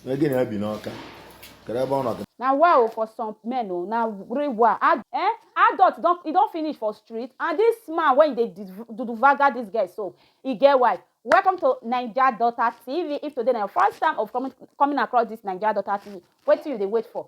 Again, I be no okay. Can I born okay? na wa o for some men o na re wa Ad, eh adult don e don finish for street and this man wey dey duduvaga this girl so e get wife welcome to naija daughter tv if today na your first time of coming coming across this naija daughter tv wetin you dey wait for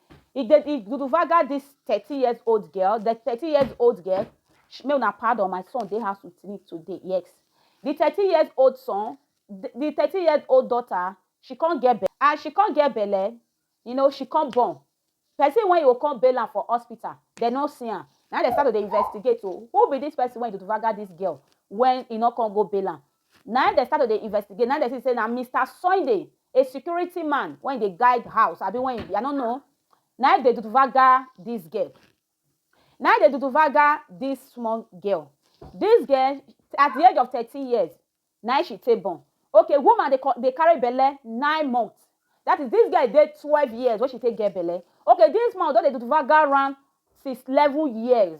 e dey e guduvaga this thirty years old girl the thirty years old girl make una pardon my son dey house with me today yes the thirty years old son the thirty years old daughter she come get belle as she come get belle you know she come born person wey go come bail am for hospital dem no see am na dem start to dey investigate o oh. who be this person wey guduvaga this girl when e no come go bail am Na im dem start to dey investigate, na im dem see say na Mister Sunday, a security man wey dey guide house abi wey e be, I no know, na im dey duduvaga dis girl. Na im dey duduvaga dis small girl. Dis girl, at di age of thirteen years, na im she take born. Okay, woman dey dey carry belle nine months. Dat is, dis girl dey twelve years wey she take get belle. Okay, dis man don dey duduvaga am since eleven years.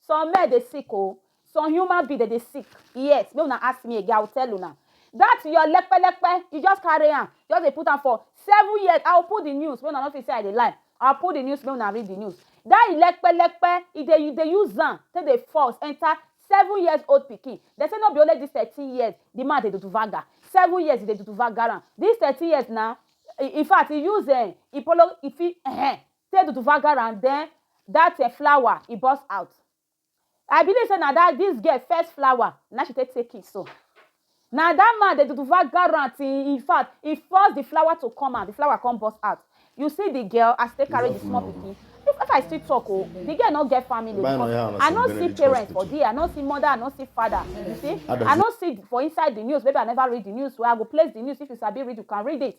Some men dey sick oh. Some human being dem dey sick. Yes, make una ask me again, I will tell una. That your lekpe lekpe, you just carry am, just dey put am for seven years. I will put the news make una no think say I dey lie. I will put the news make una read the news. That your lekpe lekpe, e dey e dey use am take dey force enter seven years old pikin. Dem say no be only this thirteen years the man dey do vaga. Seven years e dey do vaga am. This thirteen years na, in fact, e use um e follow e fit um Say do to Vanguard and then that eh, flower e burst out. I believe say na that this girl first flower na she take take it so. Na that man dey do to Vanguard and in fact he forced the flower to come out, the flower come burst out. You see the girl as they carry the small pikin. If, if I still talk, oh, the girl not get family. Buy no yam, I don't see parents for there. I don't see mother. I don't see father. You see, I don't see for inside the news. Maybe I never read the news. Where I go place the news. If you sabi read, you can read it.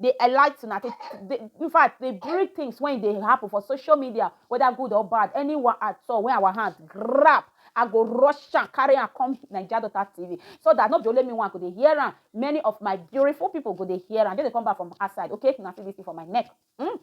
dey elite una dey dey in fact dey bring things when e dey happen for social media whether good or bad anyone at all when our hand grab I go rush am carry am come Naija Daughter TV so that no be only me one go dey hear am many of my beautiful people go dey hear am just dey come back from outside okay una see this thing for my neck mm?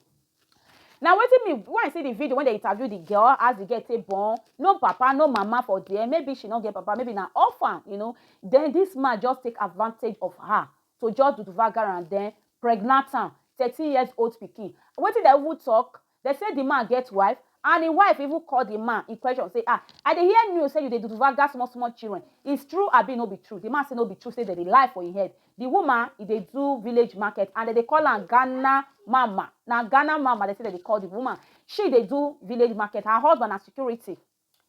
na wetin me when I see the video when they interview the girl as the girl take born no papa no mama for there maybe she no get papa maybe na orphan you know then this man just take advantage of her to just do vagar and then pregnant am thirteen years old pikin wetin dem even talk dem say the man get wife and im wife even call the man in question say ah i dey hear news say you dey do vagar small small children it's true abi no be true the man say no be true say dem dey lie for im head the woman e dey do village market and dem dey call am ghana mama na ghana mama dem say dem dey call the woman she dey do village market her husband na security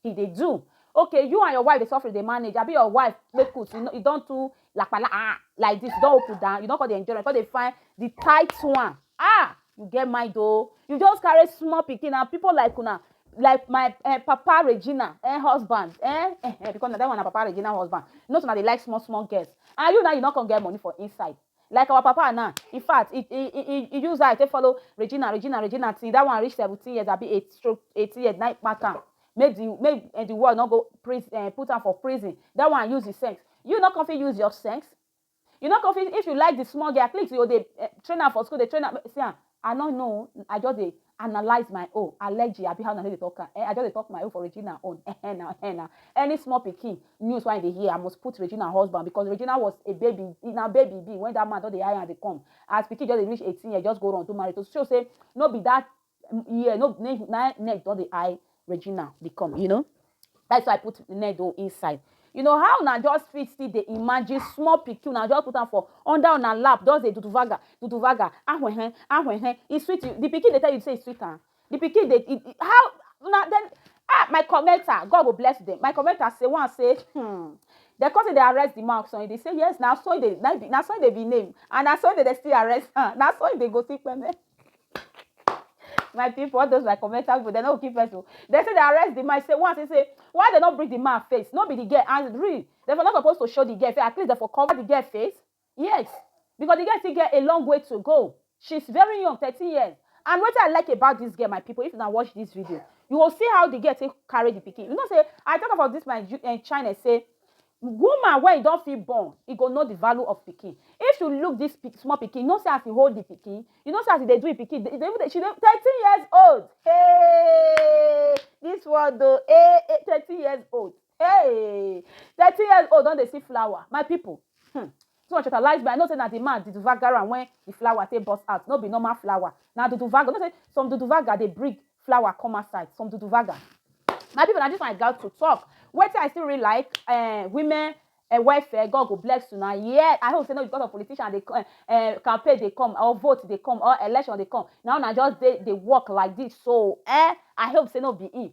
he dey do okay you and your wife dey suffer dey manage abi your wife make food you, know, you don too lapala ah like this you don open down you don come dey enjoy you come dey find the tight one ah you get mind o oh. you just carry small pikin and people like una like my uh, papa regina eh, husband eh, eh, eh, because na that one na papa regina husband you know so na dey like small small girls and you now you no come get money for inside Like our papa now, in fact, he he he he use eye take follow Regina, Regina, Regina till that one reach seventeen years abi eight stroke eighteen years na kpack am. Make the make uh, the world no go pris, uh, eh, put am for prison. That one use his sense. You no come fit use your sense. You no come fit if you like the small girl, at least you dey uh, train am for school, dey train am. See am, I no know I just dey analyse my own allergy abi how una dey talk am eh I just dey talk my own for Regina own eh eh na eh na any small pikin news wey I dey hear I must put Regina husband because Regina was a baby na baby be when that man don dey hire am dey come as pikin just dey reach eighteen years just go run do marriage to show say no be that year no na neck don dey eye regina dey come you know that's why i put needle inside you know how una just fit still dey imagine small pikin una just put am for under una lap just dey duduvaga duduvaga ahwehe ahwehe e sweet you the pikin dey tell you say e sweet am the pikin dey e, e, how una then ah my commenter god go bless them my commenter say one say hmm dem come say dey arrest the man of sunday dey say yes na sunday na, na sunday be name and na sunday dey still arrest am na sunday go see peme my people all those my commentary people dem no kill person o dem say dem arrest the man say one say say why dem no bring the man face no be the girl and real dem for no suppose to show the girl face at least dem for cover the girl face yes because the girl still get a long way to go she's very young thirteen years and wetin i like about this girl my people if una watch this video you go see how the girl take carry the pikin you know say i talk about this my uh, china say Woman wey e don fit born, e go know di value of pikin. If you look dis pik small pikin, you know sey as e hold di pikin, you know sey as e dey do e pikin, e dey even dey she dey thirteen years old heyy dis world o eh eh thirteen years old heyy thirteen years old don dey see flower my pipu hmm Too much water lies but I know say na the man duduvagar am when the flower take burst out no be normal flower na duduvagar you know say some duduvagar dey bring flower come outside some duduvagar my people na this one I got to talk wetin I still really like eh, women eh, welfare God go bless you na yeah I hope say no be because of politician dey eh, eh, campaign dey come or vote dey come or election dey come na una just dey dey work like this so eh I hope say no be him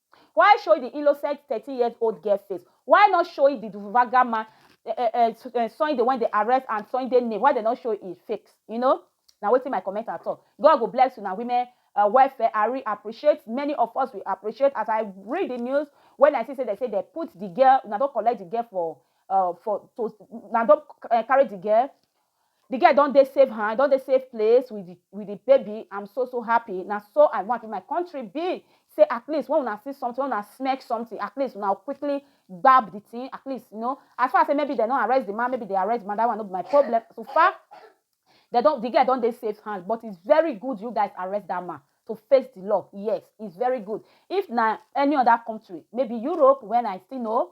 Why show di innocent thirteen years old girl face? Why not show di Duvunvaga man Sunday wen dem arrest and Sunday name why dem no show im face you know na wetin my commenter talk God go bless una women welfare I really appreciate many of us we appreciate as I read di news wen I see say dem say dem put di girl una don collect di girl for for to una don carry di girl The girl don dey safe hand, don dey safe place with the with the baby. I'm so so happy. Na so I want in my country be. Say at least when una see something, when una smack something, at least una quickly gbab the thing. At least, you know, as far as say maybe they don't arrest the man, maybe they arrest the man, that one no be my problem. So far, they don't, the girl don't dey safe hand, but it's very good you guys arrest that man to face the law. Yes, it's very good. If na any other country, maybe Europe, when I still know,